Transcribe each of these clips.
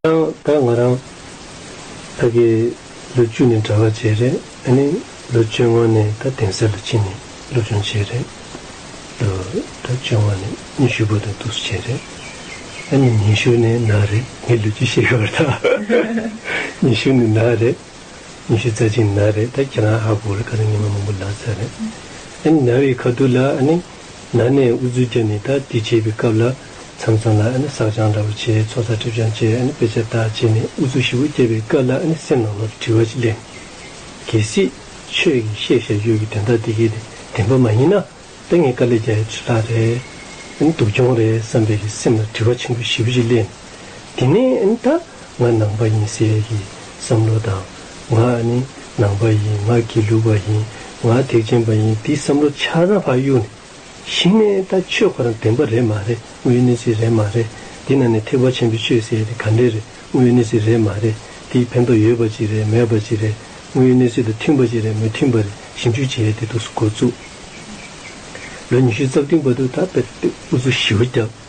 ཁྱེད་རང་དང་ང་རང་ད་གི་ལོ་བཅུ་ནི་འདྲ་བ་བྱས་རེད་ཨ་ནི་ལོ་བཅོ་ལྔ་ནི་ད་དེང་སེར་ལ་ཕྱིན་ནི་སློབ་སྦྱོང་བྱས་རེད་ལོ་ད་བཅོ་ལྔ་ནི་ཉི་ཤུ་པོ་དང་ཐུགས་སུ་བྱས་རེད་ཨ་ནི་ཉི་ཤུ་ནི་ན་རེད་ངས་ལོ་བཅུ་བཤད་གི་བར་ད་ཉི་ཤུ་ནི་ན་རེད་ཉི་ཤུ་རྩ་གཅིག་ནི་ན་རེད་ད་ཁྱེད་རང་ཧ་གོ་རེད་ཁ་ཏོན་ཉི་མ་མང་པོ་ལགས་ཚར་རེད་ཨ་ནི་ན་བའི་ཁ་ཐུག་ལ་ཨ་ནི་ན་ནས་འུ་ཚོའི་རྒྱབ་ནས་ད་དེ་བྱས་པའི་སྐབས་ལ་མཚམས་མཚམས་ལ་ཟགས་སྦྱང་འདྲ་བོ་བྱེད་ཚོགས་བསགས་སྒྲིབ་སྦྱང་བཅས་དཔེ་ཆ་དག་བྱས་ནས་དབུ་ཚུགས་བཞི་བོ་བསྐྱལ་བའི་སྐབས་ལ་སེམས་ནང་ལོག་གི་དྲི་བ་ཅིག་གླེང། གལ་སྲིད། ཆོས་ཀྱི་ཤེས་བྱ་ཡོད་ཀྱི་དོན་དག་འདི་གའི་བདེན་པ་མ་ཡིན་ན། དཔེ་ངན་དཀའ་ལས་རྒྱལ་ཡི་ཁྲི་ལྷག་རེད། སྡུག་གྱོང་རེད་བསམ་པའི་གི་སེམས་ལ་དྲི་བ་ཆེན་པོ་བཞི་བོ་ཅིག་གླེང། འདི་ནི་ད་ང་ནང་པ་ཡིན་ཟེར་གི་བསམ་བློ་དང། ང་ནང་པ་ཡིན་ང་དགེ་ལུགས་པ་ཡིན་ང་ཐེག་ཆེན་པ་ཡིན་འདི་བསམ་བློ་འཆར་ན་ཕ་གཡུག་ནས། ཞིང་ནས་ད་ཆོས་ཁོ་རང་བདེན་པ་རེད་མ་རེད་དངོས་ཡོད་གནས་ཚིག་རེད་མ་རེད་འདི་ན་ནས་ཐེག་པ་ཆེན་པོའི་ཆོས་ཟེར་ཡ་དེ་ག་འདྲས་རེད་དངོས་ཡོད་གནས་ཚིག་རེད་མ་རེད་འདིའི་ཕན་ཐོག་ཡོད་པ་ཅིག་རེད་མེད་པ་ཅིག་རེད་དངོས་ཡོད་གནས་ཚིག་དང་མཐུན་པ་ཅིག་རེད་མི་མཐུན་པ་རེད་ཞིབ་འཇུག་བྱེད་ཡ་དེ་འདུག་སུ་འགོ་བཙུགས། ལོ་ཉི་ཤུའི་རྩ་བདུན་པ་དུ་ད་དཔེར་དེ་འུ་ཚོ་ཞི་བ་རྒྱབ།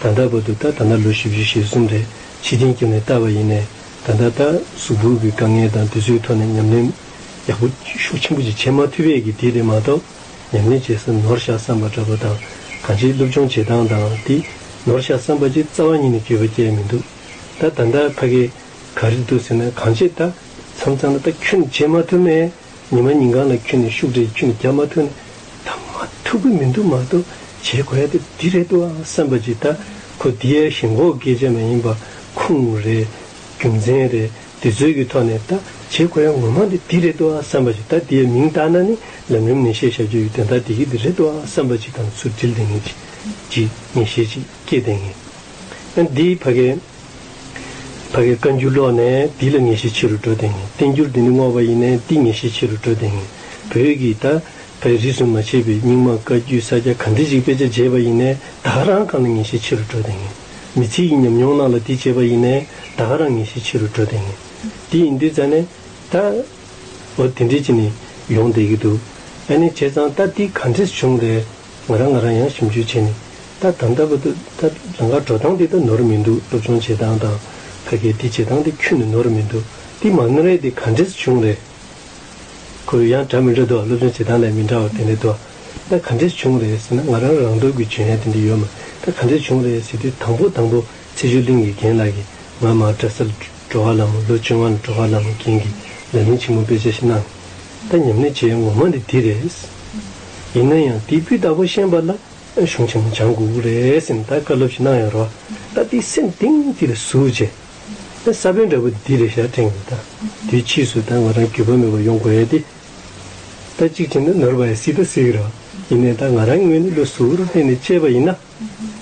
ད་ལྟ་བར་དུ་ལྟ་ད་ལྟ་ལོ་བཞི་བཞི་ཞེ་གསུམ་རེ་ཕྱི་དྲན་བསྐྱུར་ནས་ལྟ་བ་ཡིན། ད་ལྟ་ལྟ་གཟུགས་འབུར་བའི་དཀའ་ངལ་དང་དུས་ཚོད་ཐོག་ནས་ཉམས་ལེན་ཡག་པོ་ཤུགས་ཆེན་པོ་ཅིག་བྱེད་མ་ཐུབ་པས་ཀྱི་དེ་རེད་མ་གཏོགས་ཉམས་ལེན་བྱེད་ས་ནོར་བཤགས་བསམ་པ་འདྲ་པོ་དང་གང་ཅིའི་སློབ་སྦྱོང་བྱེད་སྟངས་དང་དེ་ནོར་བཤགས་བསམ་པ་ཅིག་རྩ་བ་ཉིད་ནས་གྱོད་པ་བསྐྱལ་མི་འདུག་ད་ད་ལྟ་ཕ་གིས་ག་རེ་འདུག་ཟེར་ན་གང་བྱེད་ལྟ་མཚམས་གཙང་ལ་ལྟ་ཁྱོད་ནི་བྱེད་མ་ཐུབ་མེད། ཉི་མ་ཉིན་གང་ལ་ཁྱོད་ནས་ཤུགས་དྲག་ཁྱོད་ནས་རྒྱ་མ་ཐུག་ནས་ད་མ་ཐུག་གི་མི་འདུག་མ་གཏོགས་བྱེད་དགོས་ཡ་དེ་འདི་རེད་འདུག་ཨང་བསམ་པ་ཅིག་ད་ཁོ་འདི་ཡ་ཞེན་གོག་སྐད་ཆ་མ་ཡིན་པ་ཁུངས་རེད་རྒྱུ་མཚན་རེད་འདི་ཚོད་ཀྱི་ཐོག་ནས་ད་བྱེད་དགོས་ཡ་ངོ་མ་འདི་འདི་རེད་འདུག་ཨང་བསམ་པ་ཅིག་ད་འདི་ཡ་མིང་བཏགས་ན་ནི་ལམ་རིམ་ནན་བཤད་བྱ་རྒྱུ་ཡོད་དོན་དག་འདི་གི་འདི་རེད་འདུག་ཨང་བསམ་པ་ཅིག་དང་ཚུར་དྲིལ་བསྡད་ངེས་ཅིག་ཅིག་ངེས་ཤེས་ཅིག་སྐྱེས་བསྡད་ངེས་ཡ་འདིའི་ཕ་གའི། ད་གའི་བཀའ་འགྱུར་ཀློག་ནས་འདི་ལ་ངེས་ཤེས་ཆེ་རུ་འགྲོ་དེངས་བསྟན་འགྱུར་འདི་ནི་བསྔོགས་པ་ཡིན་ནས་འདི་ངེས་ཤེས་ཆེ་རུ་འགྲོ་དེངས་བོད་ཀྱི་ད་གའི་རིས་སུ་མ་ཆད་པའི་རྙིང་མ་བཀའ་རྒྱུད་ས་སྐྱ་གང་དེ་ཞིག་དཔེ་ཆ་བརྗེས་པ་ཡིན་ནས་ད་ག་རང་གང་ལ་ངེས་ཤེས་ཆེ་རུ་འགྲོ་དེངས་མི་ཚེ་ཡི་ཉམས་མྱོང་རྣམས་ལ་འདི་བརྗེས་པ་ཡིན་ནས་ད་ག་རང་ངེས་ཤེས་ཆེ་རུ་འགྲོ་དེངས་འདི་ཡིན་འདི་ཙང་ནས་ད་འོ་དེ་འདྲས་ཅི་ནས་ཡོང་བསྡད་ཀྱི་འདུག་ཨ་ནེ་བྱས་ཙང་ད་འདི་གང་དྲེས་བྱུང་རེད། ང་རང་ང་རང་ཡང་ཞིབ་འཇུག་བྱས་ནས་ད་ད་ལྟ་བུ་ད་ད་རང་ག་འགྲོ་སྟངས་འདི་ད་ནོར་མི་འདུག་སློབ་སྦྱོང་བྱེད་སྟངས་དང་ཕ་གས་འདི་བྱེད་སྟངས་འདི་ཁྱོད་ནི་ནོར་མི་འདུག་འདི་མ་ནོར་ཡས་འདི་ག་འདྲས་སུ་བྱུང་རེད། ཁོ་བོས་ཡང་འདྲ་མི་འདྲ་འདུག་སློབ་སྦྱོང་བྱེད་སྟངས་ལས་མི་འདྲ་བ་དེ་འདྲས་འདུག་ད་ག་འདྲས་སུ་བྱུང་རེད་ཟེར་ན་ང་རང་རང་འདོད་དགོས་བྱུང་ཡས་དེ་འདྲས་ཡོད་མ་ད་ག་འདྲས་བྱུང་རེད་ཟེར་དུས་དང་པོ་དང་པོ་ཚེ་ཆུ་གླིང་གི་རྒན་ལགས་ཀྱིས་ང་མ་གྲྭ་སར་འགྲོ་བ་ལ་མོ་ལོ་བཅོ་ལྔ་ལ་འགྲོ་བ་ལ་མོ་རྒན་གྱིས་ལས་ཉིན་ཆེན་མོ་དཔེ་ཆ་ཞིག་གནང་ད་ཉམས་ལེན་བྱས་ངོ་མ་འདི་འདི་རེད། ཡིན་ན་ཡང་དེ་བུ་བདག་པོ་ཤན་པ་ལ་གཞུང་ཆེན་མོ་སྦྱང་དགོས་རེད་སེམས་ད་བཀའ་སློབ་ཅིག་གནང་ཡོང་རོགས་ད་དེ་སེམས་གཏིང་དེ་ལ་ཟུག་རྗེས། ས་བོན་འདྲ་བོ་འདི་ལས་ཞག་ཕྲེང་ཡོད་ད་དེ་ཕྱིས་སུ་ད་ང་རང་རྒྱུས་པ་མེད་པ་ཡོང་དགོས་ཡ་དེ། ད་གཅིག་བྱས་ན་ནོར་བ་ཡ་སྲིད་ད་སྲིད་རོགས་ཡིན་ནས་ད་ང་རང་ངོས་ནས་བློ་ཟུག་རོགས་གཏན་ནས་བཅས་པ་ཡིན་ན།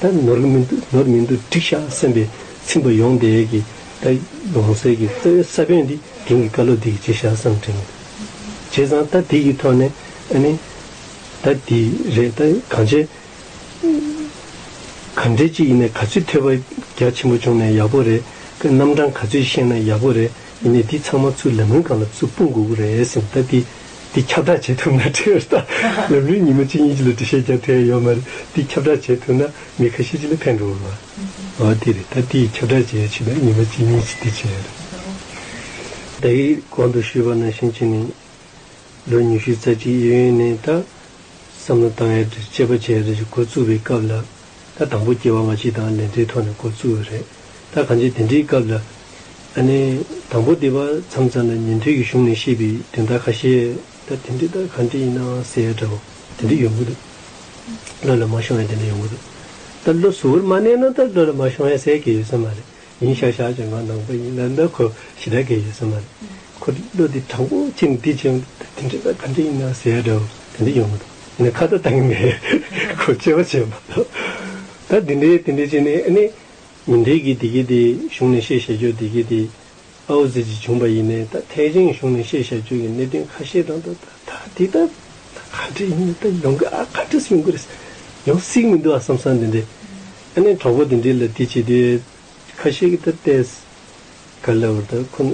ད་ནོར་གི་མི་འདུག་ནོར་མི་འདུག་འགྲིག་ཤག་སེམས་པའི་ཚིམས་པ་ཡོང་བསྡད་ཀྱི། ད་ཡོང་གསལ་གྱི་རྩ་བའི་ས་བོན་འདི་དེང་གི་བཀའ་སློབ་འདི་ཡིས་བརྗེད་ཤག་བསམ་དྲན་གྱི། བྱས་ཙང་ད་དེ་ཡི་ཐོག་ནས་ཨ་ནི། ད་དེ་རེད་ད་གང་བྱས། ག་འདྲས་ཅི་ཡིན་ནས་ག་ཚོད་ཐོས་པ་རྒྱ་ཆེན་པོ་བྱུང་ནས་ཡག་པོ་རེད་ཀི་རྣམ་གྲངས་ག་ཚོད་ཤེས་ན་ཡག་པོ་རེད་ཡིན་ནས་འདི་ཚང་མ་ཚུར་ལེ་མོན་གང་ལ་ཚུར་སྤུངས་དགོས་ཀི་རེད་ཟིན་ད་དེ་འདི་ཁྱབ་བསྒྲགས་བྱེད་ཐུབ་ན་ཁྲི་ཨར་ཏཱ་ལམ་རིམ་ཉིན་མོ་གཅིག་གཉིས་ཀྱི་ལོ་དྲི་བཤད་རྒྱག་ཐེ་ཡོད་མ་རེད་འདི་ཁྱབ་བསྒྲགས་བྱེད་ཐུབ་ན་མི་ཁ་ཤས་ཅིག་ལ་ཕན་འགྲོ་བ་རེད་འོ་དེ་རེད་ད་དེ་ཡི་ཁྱབ་བསྒྲགས་བྱེད་ཡ་ཆུ་ལ་ཉིན་མོ་གཅིག་གཉིས་ཀྱི་དེ་བྱེད་ཡ་རེད། ད་ཡིག་གོང་དུ་ཞུས་པ་ནང་བཞིན་བྱས་ནས་ལོ་ཉི་ཤུའི་རྩ་གཅིག་ཨི་ཡོན་ནས་ད་བསམ་བློ་བཏང་ཡ་དྲི་བཤད་པ་བྱས་ཡ་རེད་ཀྱི་འགོ་བཙུགས་པའི་སྐབས་ལ། ད་དང་པོ་སྐྱེ་བ་མ་ཕྱི་དང་ལེན་ཚེ་ཐོག་ནས་འགོ་བཙུགས་ཡོད་རེད། ད་གང་ཅི་དེ་འདྲིའི་སྐབས་ལ། ཨ་ནི། དང་པོ་འདི་བར་མཚམས་ཙམ་ལ་ཉན་ཐོས་ཀྱི་གཞུང་ནས་ཤེས་པའི་དོན་དག་ཁ་ཤས། ད་དེ་འདྲི་ད་གང་འདྲི་ཡིན་ནའང་ཟེར་ཡ་འདྲ་བོ། དེ་འདྲི་ཡོང་གི་འདུག། བློ་ལ་མ་ཤོང་ཡ་དེ་འདྲ་ཡོང་གི་འདུག། ད་བློ་གཟུ་བོར་མ་གནས་ན་ད་བློ་ལ་མ་ཤོང་ཡ་ཟེར་གི་ཡོད་ས་མ་རེད། ཡིན་ཤག་ཤག་ཀྱི་ང་ནང་པ་ཡིན་ན་འདི་ཁོ་ཞི་དྲག་གི་ཡོད་ས་མ་རེད། ཁོ་དེ་བློ་དེ་དྲང་པོ་ཁྱེད་ནས་དེ་བྱས་ཡོང་དེ་འདྲ་ད་ག་འདྲ་ཡིན་ནའང་ཟེར་ཡ་འདྲ་བོ་དེ་འདྲ་ཡོང་མི་འདུག་ཡིན་ན་ཁ་བརྡ་གཏང་གི་མེད་རེད་ཁོ་སྐྱེ་བ་ཆེན་པོ་ད་དེ་འདྲ་དེ་འདྲ་བྱས་ནས་ཨ་ནེ། ཉིན་དེ་གི་དེ་གི་དེ་གཞུང་ནས་བཤད་བྱ་རྒྱུ་དེ་གི་དེ་ཨའོ་ཙི་ཙི་བྱུང་པ་ཡིན་ནས་ད་ཐེག་ཆེན་གཞུང་ནས་བཤད་བྱ་རྒྱུ་གི་གནད་དོན་ཁ་ཤས་དང་ད་ད་ད་དེ་ད་ག་འདྲ་ཡིན་ནའི་ད་ཡོང་གི་ཨ་ག་འདྲ་སུ་ཡོང་གི་རེད་ས་ཡོང་སྲིད་མི་འདུག་ཨ་བསམ་བསམ་དེ་འདྲ། ཨ་ནེ་གྲོགས་པོ་དེ་འདྲིས་ལ་དེ་བྱས་དེ། ཁ་ཤེས་ཀི་ད་ལྟས། ག་ལེ་བར་ད་ཁོ།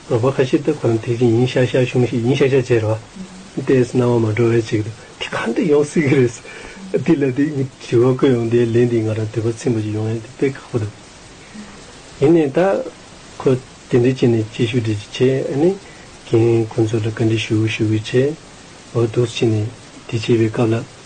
རོགས་པ་ཁ་ཤེས་ད་ཁོ་རང་དེ་བཞིན་ཡིན་ཤག་ཤག་གཞུང་ཞིག་ཡིན་ཤག་ཤག་བྱས་རོགས། ལྟས་སྣང་བ་མ་འགྲོ་བས་བྱེད་ཀི་འདུག་དེ་ག་འདྲ་ཡོང་སྲིད་ཀི་རེད། དེ་ལ་དེ་གཉིས་དྲི་བ་བཀོད་ཡོང་དེ་ལན་འདིའི་ང་རང་དུས་བབ་ཚིག་འབའ་ཞིག་ཡོང་ཡང་དེ་དཔེ་ཁག་པོ་འདུག། ཡིན་ནའི་ད། ཁོ། དེ་འདྲི་བྱས་ནས་ཅི་ཞུ་འདྲི་ཅི་བྱས་ཨ་ནེ། གན། ཁོ་ཚོ་ལ་བཀའ་འདྲི་ཞུ་ཞུ་གི་བྱས། འོ་དུགས་བྱས་ནས་དེ་བྱས་པའི་སྐབས་ལ།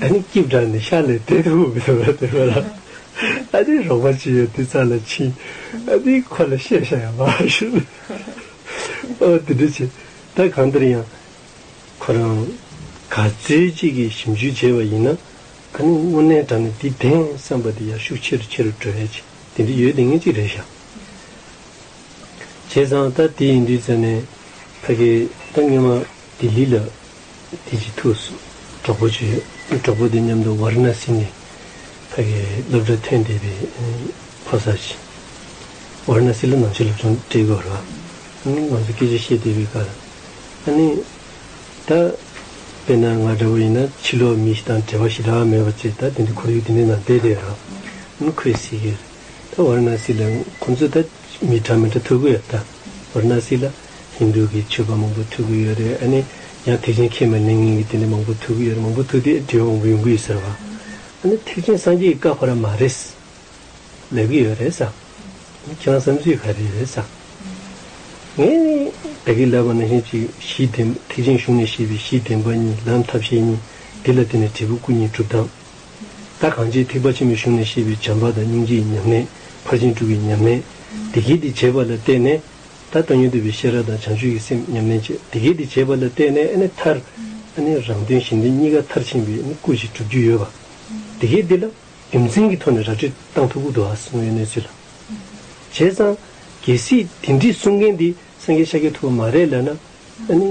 ད་ནི་སྐྱིབས་དྲངས་ནས་ཤར་ལས་དེད་དུ་འོང་གི་འདུག་བལྟས་པ་ལ། ཨ་ནེའི་རོགས་པ་ཅི་ཡོད་དེ་ཙམ་ལ་ཕྱིན། ཨ་ནེའི་ཁོ་ལ་བཤད་བྱ་ཡང་མང་བ་ཞིག་འདུག་ཨོ་དེ་འདྲ་བྱས་ད་གང་ལྟར་ཡང། ཁོ་རང་ག་ཚོད་ཅིག་གིས་ཞིབ་འཇུག་བྱས་པ་ཡིན་ན། ཨ་ནེ་དངོས་གནས་དྲངས་ནས་འདི་བདེན་བསམ་པ་དེ་ཡར་ཤུགས་ཆེ་རུ་ཆེ་རུ་འགྲོ་བས་ཆེ་དེ་འདྲ་ཡོད་དེ་ངས་ཅིག་རེ་བྱ། བྱས་ཙང་ད་དེ་ཡིན་དུས་ཙམ་ནས་ཕ་གིས་ད་སྔོན་མ་ལྡི་ལི་ལ། དེ་རྗེས་ཐུགས་སུ་གྲོགས་པོ་བྱོས། གྲོགས་པོ་དེ་མཉམ་དུ་ཝཱ་རི་ན་སི་ནི་ཕ་གི་སློབ་གྲྭ་ཐོན་བསྡད་པའི་ཕོ་གསར་ཞིག། ཝཱ་རི་ན་སི་ལ་ནང་ཆོས་སློབ་སྦྱོང་སྤྲད་སྐབས་ར་ཨ་ནིས་ང་ཚོར་སྐད་ཆ་བཤད་བསྡད་པའི་ཁར། ཨ་ནི། ད། དཔེར་ན་ང་འདྲ་བོ་ཡིན་ན་ཕྱི་ལོག་མི་ཞིག་དང་བྲལ་བ་ཞིག་གྲགས་མེད་པ་ཚོས་ད་དེ་འདྲའི་ཁོར་ཡུག་འདི་འདྲའི་ནང་བསྡད་བསྡད་ར་ཨ་ཁོའི་སྲིད་ཀྱིར། ད་ཝཱ་རི་ན་སི་ལ་ཁོ་ཚོས་ད་མི་གྲངས་མི་འདྲ་ཐུག་གི་ཡོད་ད་ཝཱ་རི་ན་སི་ལ། ཧིན་དུ་གི་མཆོད་པ་མང་པོ་ཐུག་གི་ཡོད་རེད་ཨ་ནི། ཡང་ཐེག་ཆེན་ཁྱེད་མ་གླིང་གཉིས་ཀྱི་དེ་འདྲ་མང་པོ་ཐུག་གི་ཡོད་རེད་མང་པོ་ཐུག་དེ་བྲིས་པ་མང་པོ་ཡོང་གི་ཡོད་ཟེར་བ། ཨ་ནི་ཐེག་ཆེན་སངས་རྒྱས་ཀྱི་བཀའ་ཕོག་ར་མ་རེད། ལབ་གི་ཡོད་རེད་ཟེར། ཨ་ནི་ཁྱེད་རང་བསམ་ཚུལ་ག་རེ་རེད་ཟེར། ངས་ནི། བདག་གིས་ལབ་པ་ན་གཞན་གཅིག་གཞི་བདེན་པ་ཐེག་ཆེན་གཞུང་ནས་བཤད་པའི་གཞི་བདེན་པ་གཉིས་ལམ་ཐབས་ཤེས་གཉིས་འདི་ལ་བརྟེན་ནས་འབྲས་བུ་སྐུ་གཉིས་གྲུབ་སྟངས། བདག་གང་ཅིའི་ཐེག་པ་ཆེན་པོའི་གཞུང་ནས་བཤད་པའི་བྱམས་པ་དང་སྙིང་རྗེའི་ཉམས་ལེན་ཕར་ཕྱིན་དྲུག་གི་ཉམས་ལེན། བདེ་སྐྱིད་འདི་བྱེད་པ་ལ་བརྟེན་ནས། ད་ལྟ་ཉོན་དུ་བའི་ཤེས་རབ་དང་བྱང་ཆུབ་ཀྱི་སེམས་ཉམས་ལེན་བྱེད་དེ་གལ་ཏེ་བྱས་པ་ལ་བརྟེན་ནས་ནི་མཐར། ནི་རང་དོན་གཞན་དོན་གཉིས་ཀ་མཐར་ཕྱིན་པའི་ནི་སྐུ་ཞིག་གྲུབ་རྒྱུ་ཡོད་པ། དེ་གལ་ཏེ་ལ། རྒྱུ་མཚན་གྱི་ཐོག་ནས་ར་སྤྲོད་སྟངས་ཐུགས་ཁུར་དུ་ཨ་སྔོན་གནས་ཚུལ་ལ། བྱས་ཙང། གལ་སྲིད་དེ་འདྲིས་གསུང་མཁན་དེ་སངས་རྒྱས་ཤཱཀྱ་ཐུབ་པ་མ་རེད་ལ་ན། ཨ་ནི།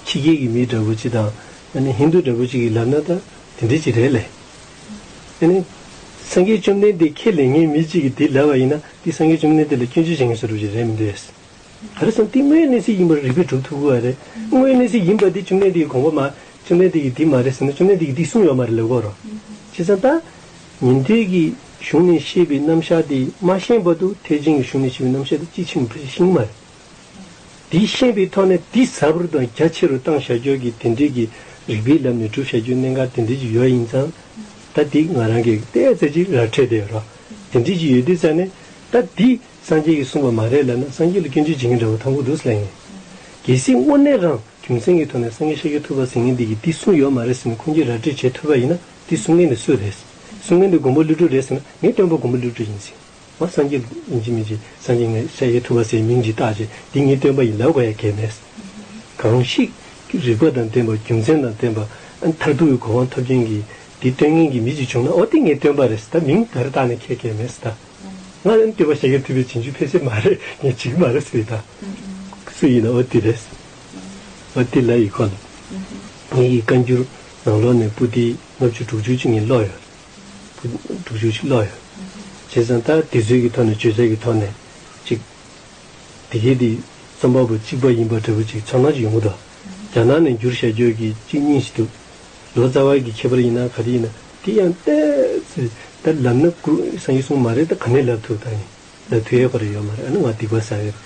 ཕྱི་རྒྱལ་གྱི་མི་འདྲ་བོ་གཅིག་དང། ཨ་ནི་ཧིན་དུ་འདྲ་བོ་གཅིག་གིས་ལབ་ན་ད་དེ་འདྲའི་གཅིག་རེད་ལེ། ཨ་ནི། སངས་རྒྱས་བཅོམ་ལྡན་འདས་ཁྱེད་ལས་ངའི་མི་གཅིག་གིས་དེ་ལབ་པ་ཡིན་ན་དེ་སངས་རྒྱས་བཅོམ་ལྡན་འདས་ལ་སྐྱོན་བརྗོད་བྱེད་མཁན་སུ་རུབ་ཀྱི་རེད་མི་འདོད། ག་རེ་བསམ་དེ་དངོས་གནས་སྲིད་ཡིན་པར་རིགས་པས་གྲུབ་ཐུབ་དགོས་པ་རེད། དངོས་གནས་སྲིད་ཡིན་པ་དེ་བཅོམ་ལྡན་འདས་ཀྱི་དགོངས་པ་མ། བཅོམ་ལྡན་འདས་ཀྱིས་དེ་མ་རེད་ཟེར་ན་བཅོམ་ལྡན་འདས་ཀྱིས་དེ་གསུངས་ཡོད་མ་རེད་ལབ་དགོས་རོགས། བྱས་ཙང་ད། ཉན་ཐོས་ཀྱི་གཞུང་ནས་བཤད་པའི་རྣམ་གཞག་དེ་མ་ཤེས་པར་དུ་ཐེག་ཆེན་གྱི་གཞུང་ནས་བཤད་པའི་རྣམ་གཞག་དེ་དཔྱིས་ཕྱིན་གྱི་བུ་ཞིག་ཤེས་ངེས་མ་རེད། དེའི་ཤེས་པའི་ཐོག་ནས་དེ་གཟབ་རུ་དང་རྒྱ་ཆེ་རུ་བཏང་བྱ་སྤྱོད་ཀྱི་དེ་འབྲེལ་གྱི་རིགས་པའི་ལམ་ནས་སྒྲུབ་བྱ་སྤྱོད་གནད་འགག་དེ་འབྲེལ་གྱི་ཡོད་ཡིན་ཙང། ད་དེ་ང་རང་གིས་བལྟས་ཙེ་ཅིག་ར་འཕྲོད་དེ་རོ། དེ་འབྲེལ་གྱི་ཡོད་དུས་ཙང་ནས། ད་དེ་སངས་རྒྱས་ཀྱིས་གསུངས་པ་མ་རེད་ལབ་ན་སངས་རྒྱས་ལ་སྐྱོན་བརྗོད་བྱེད་མཁན་འདྲ་བོ་ཐང་གོ་འདུག་ཟེར་ཡིན། གལ་སྲིད་དངོས་གནས་རང་རྒྱུ་མཚན་གྱི་ཐོག་ནས་སངས་རྒྱས་ཤར་རྒྱུ་ཐུབ་པ་ཟེར་མཁན་དེ་གིས་དེ་གསུངས་ཡོད་མ་རེད་ཟེར་ནས་ཁོང་གིས་ར་སྤྲོད་བྱེད་ཐུབ་པ་ཡིན་ན་དེ་གསུང་མཁན་དེ་སུ་རེད། གསུང་མཁན་དེ་མགོན་པོ་གླུད་གྲུབ་རེད་ཟེར་ན་ངས་སྟོན་པ་མགོན་པོ་གླུད་གྲུབ་ཡིན་ཟེར། བ་སངས་རྒྱས། ཡིན་གྱི་མིན་གྱི་སངས་རྒྱས་ངས་ཤཱ་ཀྱའི་ཐུབ་པ་སའི་མིང་གིས་བཏགས་ཀྱི་འདི་ཉིད་སྟོན་པ་ཡིན་ལ་བ་ཡ་གས་མས། གང་ཞིག། རིགས་པ་དང་ལྡན་པ་རྒྱུ་མཚན་དང་ལྡན་པ། མཐར་ཐུག་གི་གོ་འཕང་ཐོབ་ཀྱིན་གྱི། འདི་སྟོན་ངེས་ཀྱི་མི་ཅིག་བྱུང་ན་ཨོ་འདི་ངས་སྟོན་པ་རེད་ད་མིང་འདི་ར་བཏགས་ནས་ཁྱེད་གས་མས་ད། ང་ནི་སྟོན་པ་ཤཱ་ཀའི་ཐུབ་པའི་བྱིན་གྱིས་ཕེབས་སའི་མ་རེད་ངས་བྱིན་གྱི་མ་རེད་ཟེར་ད། སུ་ཡིན་ན་ཨོ་འདི་རེད། ཨོ་འདི་ལ་ཡིས་ཁོ་ལ། ངེད་ཀྱི་བཀའ་འགྱུར། ནང་ལོགས་ནས་པུ་ཏི་ལྔ་བཅུ་དྲུག་ཅུ་གཅིག་ཉིད་ཀློག་ཡོད། དྲུག་ཅུ་གཅིག་ཀློག་ཡོད། བྱས་ཙང་ད་དེ་ཚོད་ཀྱི་ཐོག་ནས་བརྗོད་བྱ་གྱི་ཐོག་ནས་ཅིག། དེ་གའི་དེ་རྩོམ་པ་པོ་གཅིག་པ་ཡིན་པ་འདྲ་བོ་ཅིག་ཚོར་སྣང་ཅིག་ཡོང་གི་འདུག་རྒྱ་ནག་ནས་འགྱུར་ཞལ་འགྱོད་ཀྱི་གཅིག་གཉིས་ཤིག་འདུག་ལོ་ཙཱ་བ་གི་ཁྱད་པར་ཡིན་ན་ག་དེ་ཡིན་ན་དེ་ཡང་ལྟས། ད་ལབ་ན་ཀུ་སངས་ཡིག་གསུངས་མ་རེད་ད་ག་ནས་ལབ་ཐུབ་ད་ཡིན། ལ་དུས་ཡོད་པ་རེད་ཡོད་མ་རེད་ཨ་ནི་ང་སྡིག་པ་ཟ་གི་རེད་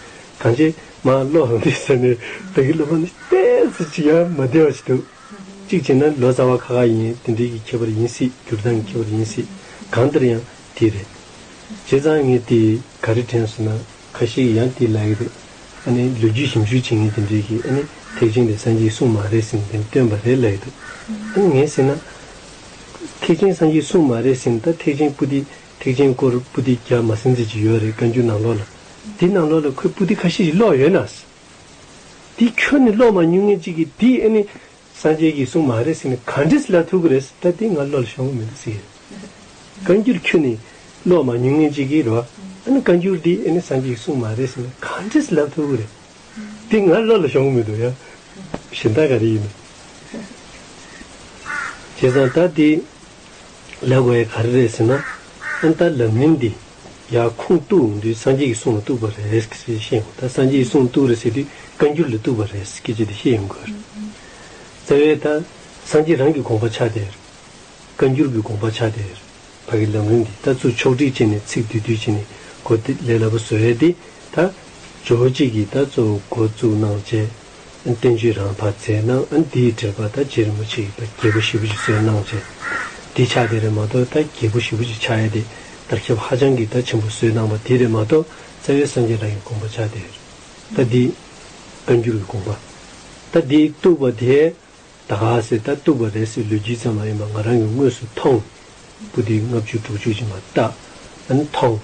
གང་ཅིས་མ་བློ་འང་འདི་ཟེར་ནས་བདག་གི་སློབ་མ་ནི་དཔེ་ཚོད་ཅིག་ཡང་མ་བདེ་བ་ཞིག་འདུག་གཅིག་བྱས་ན་ལོ་ཙཱ་བ་ཁ་ཁ་ཡིན་དེ་འདྲས་ཀྱི་ཁྱད་པར་ཡིན་སྲིད་སྒྱུར་སྟངས་ཀྱི་ཁྱད་པར་ཡིན་སྲིད་གང་ལྟར་ཡང་དེ་རེད། བྱས་ཙང་ངས་དེ་ག་རེ་དྲན་སོང་ན་ཁ་ཤས་ཀྱིས་ཡང་དེ་ལ་ཡི་རེད་ཨ་ནི་ལོ་རྒྱུས་ཞིབ་འཇུག་བྱེད་མཁན་དེ་འདྲས་ཀྱིས་ཨ་ནི་ཐེག་ཆེན་དེ་སངས་རྒྱས་གསུངས་མ་རེད་ཟེར་ནས་དེ་འདྲ་བཏོན་པ་རེད་ལ་ཡི་འདུག་ཨ་ནི་ངས་ཟེར་ན། ཐེག་ཆེན་སངས་རྒྱས་གསུངས་མ་རེད་ཟེར་ནས་ད་ཐེག་ཆེན་པོ་འདི་ཐེག་ཆེན་སྐོར་པུ་ཏི་རྒྱ་མ་སེམས་ཚེ་གཅིག་ཡོད་རེད་བཀའ་འགྱུར་ནང་ལོགས་ལ། འདི་ནང་ལོགས་ལ་ཁོས་པུ་ཏི་ཁ་ཤས་ཤིག་ཀློག་ཡོད་ནའས། འདི་ཁྱོད་ནས་ཀློག་མ་མྱོང་ངེས་གཅིག་གིས་འདི་ཨེ་ནི། སངས་རྒྱས་ཀྱིས་གསུངས་མ་རེད་ཟེར་ནས་ག་འདྲི་ལ་ཐུག་གི་རེད་ཟེར་ད་འདི་ང་ཀློག་ལ་ཤོང་གི་མི་འདུག་ཟེར་གྱི་རེད། བཀའ་འགྱུར་ཁྱོད་ནས་ཀློག་མ་མྱོང་ངེས་གཅིག་གིས་རོ། ཨ་ནི་བཀའ་འགྱུར་འདི་ཨེ་ནི་སངས་རྒྱས་ཀྱིས་གསུངས་མ་རེད་ཟེར་ནས་ག་འདྲི་ལ་ཐུག་གི་རེད། འདི་ང་བློ་ལ་ཤོང་གི་མི་འདུག་ཡ། གཞི་མཐའ་ག་རེ་ཡིན་ནམ། བྱས་ཙང་ད་འདི་ལས་གོ་ཡས་ག་རེ་རེད་ཟེར་ན། ཨན་ད་ལབ་མིན་འདི་ཡ་ཁུངས་གཏུགས་འདི་སངས་རྒྱས་ཀྱི་གསུང་ལ་གཏུགས་པ་རེད་ཟེར་གྱི་བཤད་ཡོང། ད་སངས་རྒྱས་ཀྱི་གསུང་གཏུགས་རེད་ཟེར་དུས་བཀའ་འགྱུར་ལ་གཏུགས་པ་རེད་ཟེར་གྱི་ཅི་འདི་ཤེས་ཡོང་དགོས་རེད། རྩ་བའི་ད་སངས་རྒྱས་རང་གི་དགོངས་པ་ཆགས་བསྡད་རེད། བཀའ་འགྱུར་གྱི་དགོངས་པ་ཆགས་བསྡད་རེད། བར་གྱི་ལམ་རིམ་འདི་ལྟར་ཚུར་ཕྱོགས་སྒྲིག་བྱས་ནས་ཚིག་བསྡུས་བསྡུས་བྱས་ནས་གོ་དེ་ལས་སླ་པོ་བཟོ་ཡས་དེ། ད། ཇོ་བོ་རྗེས་ཀྱིས་ད་གཙོ་བོ་འགོ་བཙུགས་གནང་བཅས། བསྟན་བཅོས་རང་བར་མཛད་གནང་ཨ་འདིའི་འགྲེལ་པ་ད་རྗེ་རིན་པོ་ཆེ་ཡི་ད་རྒྱལ་པོ་ཞེས་པོ་ཞིག་བཟོས་གནང་བཅས། འདི་ཕྱག་དེ་རེད་མ་གཏོགས་ད་རྒྱལ་པོ་ཞེས་པོ་ཞིག་ཕྱག་ཡས་དེ་དར་ཁྱབ་ཧ་ཅང་གི་ད་ཆེན་པོ་བཟོས་གནང་བ་དེ་རེད་མ་གཏོགས་རྩ་བའི་སངས་རྒྱས་རང་གི་དགོངས་པ་ཕྱག་དེ་རེད། ད་འདིའི། བཀའ་འགྱུར་གྱི་དགོངས་པ། ད་འདིའི་བཏུ་བ་དེ། ད་ག་ཟེ་ད་གཏུགས་པ་རེད་ཟེར་ལུས་ཇི་ཙམ་མ་ཡིན་པ་ང་རང་གི་དངོས་སུ་མཐོང། སྤུ་དེ་ལྔ་བཅུ་དྲུག་ཅུ་ཅིག་མ་གཏགས་ཨ་ནི་མཐོང།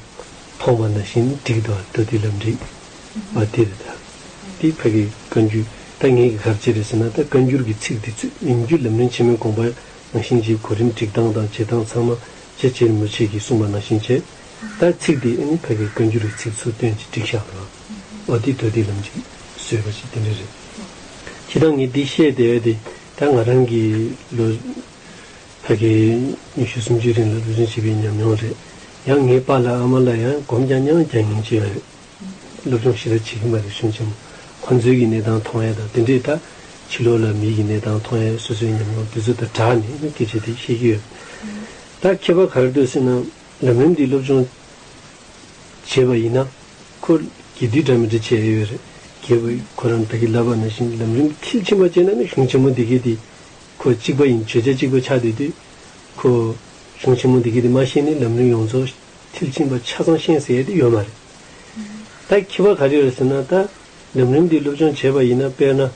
མཐོང་བ་ན་ཞིང་འགྲིག་འདུག་ཨ་སྟོད་དེ་ལབ་འགྲིག། བ་དེ་རེད་ད། དེའི་ཕ་གི་བཀའ་འགྱུར་ད་ངེད་ཀྱི་གར་བྱེད་རེད་ཟེར་ན་ད་བཀའ་འགྱུར་གྱི་ཚིག་དེ་ཚོས་ཉིན་རྒྱུན་ལམ་རིན་ཆེན་མོའི་དགོངས་པ་ནང་བཞིན་གྱི་གོ་རིམ་སྒྲིག་སྟངས་དང་བྱེད་སྟངས་ཚང་མ་ཇེ་ཆེར་མུ་ཆེ་གིས་གསུངས་པ་ནང་བཞིན་བྱས། ད་ཚིག་དེ་ཨ་ནི་ཕ་གི་བཀའ་འགྱུར་གྱི་ཚིག་ཚུར་སྟོན་གྱིས་བསྒྲིགས་ཤག་ན། ཨོ་དེ་དོ་དེ་ལམ་ཅིག་བཟོས་པ་ཞིག་དེ་འདྲ་རེད། ཁྱེད་རང་ངས་འདི་བཤད་བསྡད་ཡོད་དེ། ད་ང་རང་གིས་ལོ་ད་གའི་ཉི་ཤུ་སུམ་ཅུའི་རིང་ལ་བློ་སྦྱོང་བྱས་པའི་ཉམས་མྱོང་རེད། ཡང་ངའི་པཱ་ལགས་ཨ་མ་ལ་ཡང་སྒོམ་རྐྱང་རྐྱང་རྒྱག་ཉེན་ཅི་ཡང་ཡོད། སློབ་སྦྱོང་ཞེ་དྲག་བྱེད་ཀྱིན་པ་རེད་བྱུང་ཆེན་མོ་ཁོ་ཚོའི་གི་གནས་སྟངས་མཐོང་ཡས་དང་དེ་འདྲས་དང། ཕྱི་ལོག་ལ་མིའི་གི་གནས་སྟངས་མཐོང་ཡས་སོ་སོའི་ཉམས་མྱོང་དེ་ཚོ་དང་སྦྲགས་ནས་སྐད་ཆ་དེ་བཤད་ཀྱི་ཡོད། ད་ཁྱེད་པ་ག་རེ་སྡོད་སྲིད་ན། འདྲ་མིན་འདི་སློབ་སྦྱོང་བྱས་པ་ཡིན་ན། ཁོ་དགེ་སྡིག་འདྲ་མིན་འདྲ་བྱེད་ཨེ་ཡོད་རེད། རྒྱལ་བུ་ཁོ་རང་བདག་གི་བསླབ་པ་ནང་བཞིན་ལམ་རིམ་མཐིལ་ཕྱིན་པ་བྱས་ན་ནི་གཞུང་ཆེན་མོ་འདི་སྐད་དེ། ཁོ་གཅིག་པ་ཡིན་བརྗོད་བྱ་གཅིག་པ་ཆགས་སྡོད་དུས། ཁོ། གཞུང་ཆེན་མོ་འདི་སྐད་དེ་མ་ཤེས་ནི་ལམ་རིམ་ཡོངས་རྫོགས་མཐིལ་ཕྱིན་པ་ཆ་ཚང་ཤེས་ཟེར་ཡས་དེ་ཡོད་མ་རེད། ད་ཁྱི་བ་ག་རེ་ཡོད་ཟེར་ན་ད། ལམ་རིམ་འདི་སློབ་སྦྱོང་བྱས་པ་ཡིན་ན་དཔེར་ན།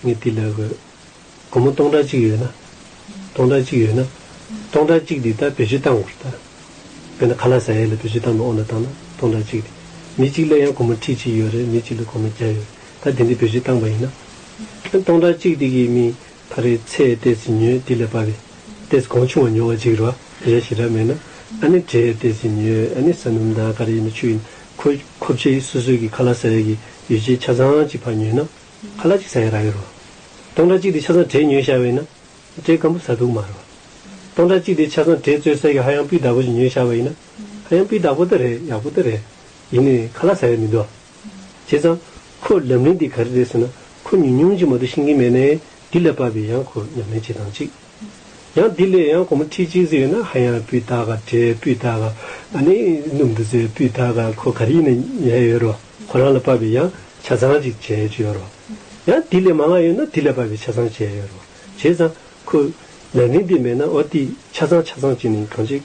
ངས་འདི་ལས་དགོས། སྒོར་མོ་སྟོང་ཕྲག་གཅིག་ཡོད་ན། སྟོང་ཕྲག་གཅིག་ཡོད་ན། སྟོང་ཕྲག་གཅིག་འདི་ད་བེད་སྤྱོད་བཏང་དགོས་ད། དཔེར་ན་ཁ་ལག་ཟ་ཡས་ལ་བེད་སྤྱོད་བཏང་མི་འོང་ད་བཏང་ན་སྟོང་ཕྲག་གཅིག་འདི། མི་གཅིག་ལས་ཡང་སྒོར་མོ་ཁྲི་གཅིག་ཡོད་རེད་མི་གཅིག་ལ་སྒོར་མོ་བརྒྱ་ཡོད་རེད་ད་དེ་འདི་བེད་སྤྱོད་བཏང་པ་ཡིན་ན། སྟོང་ཕྲག་གཅིག་འདི་གིས་མི་ད་རེས་ཚེ་ལྟས་ཉོས་འདི་ལས་བབས་པས་ལྟས་གང་ཆུང་བ་ཉོ་བ་འཇིགས་རོ་རེ་ཞིག་རག་མེད་ན། ཨ་ནི་གྲས་ལྟས་ཉོས་ཨ་ནི་ཟ་སྣུམ་དང་ག་རེ་ཡིན་ན་ཆུ་ཡིན་ཁོ་ཁོ་བྱས་སོ་སོས་ཀྱི་ཁ་ལག་ཟ་ཡས་ཀྱི་ཡོ་བྱད་ཆ་ཚང་གཅིག་ཕར་ཉོས་ན། ཁ་ལ་ཅིག་ཟ་ཡ་ར་ཡོད་རོ། སྟོང་ཕྲག་གཅིག་དེ་ཆ་ཚང་བྲེས་ཉོས་ཤར་བས་ན། བྲེས་སྐམ་པོ་ཟ་འདུག་མ་རོ། སྟོང་ཕྲག་གཅིག་དེ་ཆ་ཚང་བྲེས་བཙོས་གསེར་གྱི་ཧ་ཡང་སྤུས་དག་པོ་ཞིག་ཉོས་ཤར་བས་ན། ཧ་ཡང་སྤུས་དག་པོ་ད་རེད་ཡག་པོ་ད་རེད། ཡིན་ནས་ཁ་ལ་ཟ་ཡ་མི་འདུག་ཨ། བྱས་ཙང། ཁོས་ལམ་རིན་དེ་ག་རེ་རེད་ཟེར་ན་ཁོ་ཉུང་ཉུང་ཅིག་མ་གཏོགས་ཤེས་ཀྱིན་མེད་ནའི་དེ་ལས་བབས་པས་ཡང་ཁོས་ཉམས་ལེན་བྱེད་སྟངས་གཅིག། ཡང་དེ་ལས་ཡང་གོང་མ་ཁྲིད་གཅིག་ཟེར་བས་ན་ཧ་ཡང་སྤུས་དག་བྲེས་སྤུས་དག། ཨ་ནི་སྣུམ་དུ་བཙོས་སྤུས་དག་ཁོ་ག་རེ་ཡིན་ན་ཉན་ཡ་ཡོད་རོ། ཁོ་རང་ལ་བབས་པའི་ཡང་ཆ་ཚང་ཅིག་བྱས་ཡོད་རོ། ཡང་དེ་ལས་མ་མངའ་ཡོད་ན་དེ་ལས་བབས་པའི་ཆ་ཚང་བྱས་ཡོད་རོ། བྱས་ཙང། ཁོས། ལས་འབྲིང་འདི་མེད་ན་ཨོ་ཏི་ཆ་ཚང་ཆ་ཚང་བྱས་ནས་གང་བྱེད།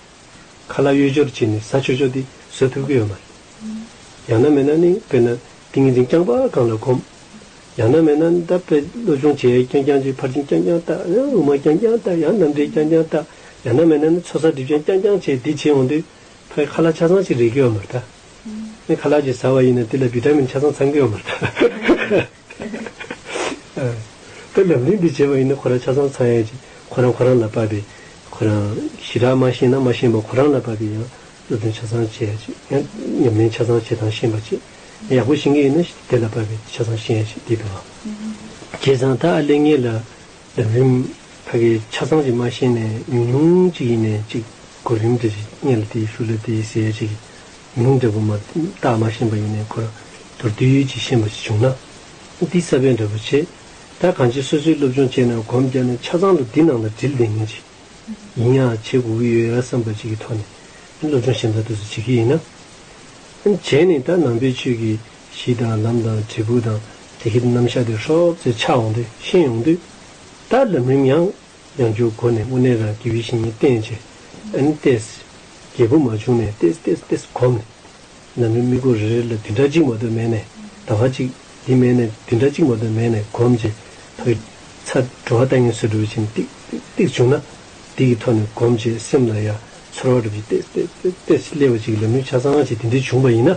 ཁ་ལག་གཡོས་སྦྱོར་བྱས་ནས་ཟ་ཆོས་ཆོས་དེ་བཟོད་ཐུབ་ཀྱི་ཡོད་མ་རེད། ཡང་ན་མེད་ན་ནི་དཔེར་ན་ཏིང་ངེ་འཛིན་རྐྱང་པ་གང་ལ་གོམས། ཡང་ན་མེད་ན་ད་དཔེ་བློ་ཆུང་བྱས་རྐྱང་རྐྱང་བྱས་ཕར་ཕྱིན་རྐྱང་རྐྱང་བལྟ་ཡང་དབུ་མ་རྐྱང་རྐྱང་བལྟ་ཡང་རྣམ་འགྲེལ་རྐྱང་རྐྱང་བལྟ་ཡང་ན་མེད་ན་ནི་ཚོགས་བསགས་སྒྲིབ་སྦྱང་རྐྱང་རྐྱང་བྱས་འདི་བྱས་འོང་དུས། ཕའི་ཁ་ལག་ཆ་ཚང་ཞིག་རེག་གི་ཡོད་མ་རེད་ད། ནི་ཁ་ལག་ཅིག་ཟ་བ་ཡིན་ན་དེ་ལ་བི་ཏྲ་མིན་ཆ་ཚང་ཚང་གི་ཡོད་མ་རེད། ལབ་གླེང་འདི་བྱས་པ་ཡིན་ན་ཁོ་རང་ཆ་ཚང་ཚང་ཡོད་ཅིག་ཁོ་རང་ཁོ་རང་ལ་བབས་པའི་ཁོ་རང་ཞི་དྲག་མ་ཤེས་ན་མ་ཤེས་པ་ཁོ་རང་ལ་བབས་པའི་ཡང་སློབ་སྟོན་ཆ་ཚང་བྱས་ཡོད་ཅིག་ཡང་ཉམས་ལེན་ཆ་ཚང་བྱེད་སྟངས་ཤེས་པ་ཅིག་ཡག་པོ་ཤེས་ཀྱི་ཡིན་ན་དེ་ལ་བབས་པའི་ཆ་ཚང་ཤེས་ཡོད་ཅིག་འདི་བེད་ཨ། ཁྱེད་ཚང་ད་ཨ་ལས་ངེད་ལ། ལྡེམ་རིམ། ད་གི་ཆ་ཚང་གཅིག་མ་ཤེས་ནས་ཉུང་ཉུང་གཅིག་ཡིན་ནས་གཅིག་གོ་རིམ་དེ་རེད་གཉིས་ལ་དེ་ཞུ་ལ་དེ་ཟེར་གཅིག་ཉུང་ཉུང་འདྲ་པོ་མ་བརྟགས་མ་ཤེས་པ་ཡིན་ནས་གོ་དོར་བསྡུར་ཡུལ་གྱི་ཤེས་པ་ཞིག་བྱུང་ན་འདི་གསར་པའི་འདྲ་པོ་བྱེད། ད་གང་ཅི་སོ་སོའི་སློབ་སྦྱོང་བྱས་ན་གོམས་བརྒྱབ་ནས་ཆ་ཚང་ལ་འདི་ནང་ལ་སྒྲིལ་བསྡད་ངེས་ཅིག་ཡིན་ཡང་བྱེད་དགོས་ཀྱི་ཡོད་ར་བསམ་པ་ཅིག་གི་ཐོག་ནས་སློབ་སྦྱོང་ཞབས་འདྲ་དུས་སུ་བྱེད་ཀྱི་ཡིན་ན། བྱས་ནས་ད་ནང་པའི་ཆོས་ཀྱི་གཞི་དང་ལམ་དང་དྲིལ་བུ་དང་དེ་གའི་རྣམ་གཞག་དེ་ཧྲོབ་ཙེ་ཆགས་འོང་སྟེ་ཤེས་ཡོང་དུས། ད་ལམ་རིམ་ཡང་ཡང་བསྒྱུར་སྒོ་ནས་དངོས་གནས་རང་རྒྱལ་བའི་གཞི་ཉིད་བསྟན་ཆེ། ཨན་ཏེས། རྒྱལ་པོ་མ་བྱུང་ནས་ཏེས་ཏེས་ཏེས་གོམས་ནས། ལམ་རིམ་དམིགས་སྒོ་རེ་རེ་ལ་འདི་འདྲ་གཅིག་མ་གཏོགས་མེད་ནས་ད་ག་གཅིག་འདི་མེད་ནས་འདི་འདྲ་གཅིག་མ་གཏོགས་མེད་ནས་གོམས་རྗེས་ཐོག་གི་ཚ་དྲོ་བ་ལྟ་ངན་སོ་དྲོ་བའི་ཆིངས་ཏིག་ཏིག་ཏིག་བྱུང་ན། དེ་གི་ཐོག་ནས་གོམས་རྗེས་སེམས་ལ་ཡ་ཚོར་བ་སྒྲུབ་རྗེས་ཏེས་ཏེས་ཏེས་ཏེས་ཀླད་པ་གཅིག་གི་ལམ་རིམ་ཆ་ཚང་ཞིག་དེ་འདྲའི་བྱུང་བ་ཡིན་ན།